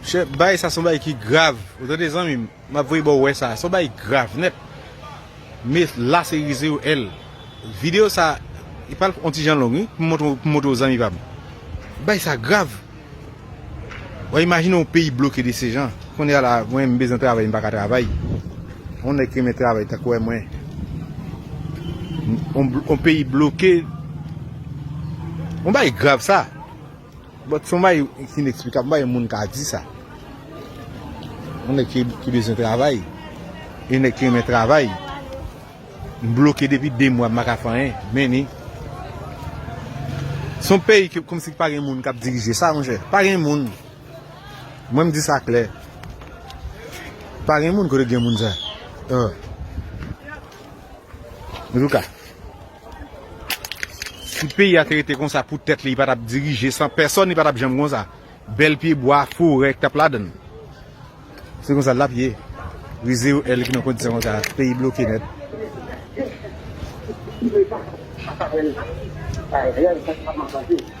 Chef bay sa son bay ki grav ou tande zanmim map voye baw wè sa son bay grav nèt me la se rize yo el video sa li pral on ti jan long wi pou montre pou montre ou zanmi pam bay sa grav wa imajine on peyi bloke de se jan konnya la mwen m bezwen travay m paka travay on nèg ki renmen travay ta kwè mwen on peyi bloke on bay grav sa. But son bagay ki ineksplikab, m pa wè moun ka di sa. Yon nèg ki bezwen travay, yon nèg ki renmen travay, m bloke depi 2 mwa m paka fè anyen, men ni. Son peyi ki kòmsi ki pa gen moun kap dirije sa monchè. Pa gen moun. Mwen m di sa klè. Pa gen moun kote gen moun sa. An tou ka. Si peyi a te rete konsa pou tèt li, li pa t ap dirije san pèsòn, li pa t ap janm konsa. Bèl pye bwa, forè ki t ap ladan l. Se konsa l t ap ye. Rize yo èl ki nan kondisyon konsa, peyi bloke nèt. Mwen pa ka wè l la. Sa rèl sa ki pa manifeste.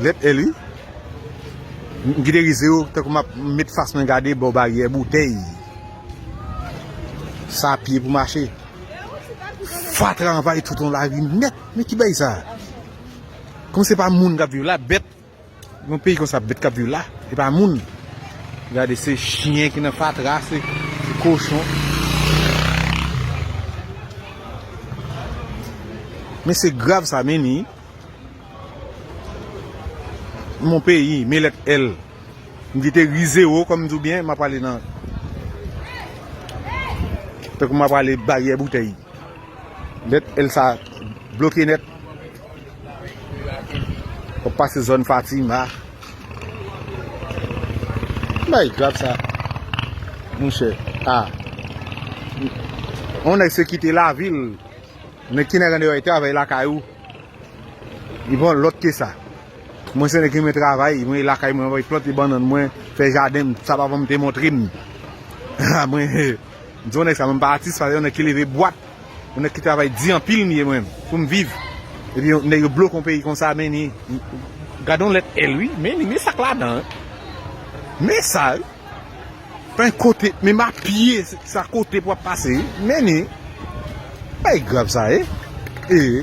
Lèt L wi. M kite rize yo tankou m ap met fas mwen gade bò baryè boutèy. Sa a pye pou mache. Fatra anvayi tout yon lari nèt. Men ki bagay sa a? Kòm se pa moun k ap viv la, bèt. Yon peyi konsa bèt k ap viv la, se pa moun. Gade se chyen ki nan fatra, se kochon. Men se grav sa men ni. Mon peyi, me lèt L. M kite ri zewo kòm di w byen, m ap ale nan. Tankou m ap ale baryè boutèy. Lèt L sa a bloke nèt. W ap pase zòn Fatima. Ki bagay grav sa a, monchè? A. On nèg se kite lavi l. Nèg ki nan Grandeyò e travay lakay ou. Li bon lòt ke sa. Mwen se nèg ki renmen travay, mwen lakay mwen mwen plante bannann mwen, fè jaden m, sa papanm te montre m. Ha mwen m se yon nèg sa mwen m pa atis, se yon nèg ki leve bwat, yon nèg ki travay di anpil m ye mwen pou m viv. Epi yon nèg yo bloke yon peyi konsa men ni gade yon lèt L wi, men ni men sak ladan. Men sa wi. Bay kote men ma pye sa kote pou wap pase men ni bay grav sa e ee.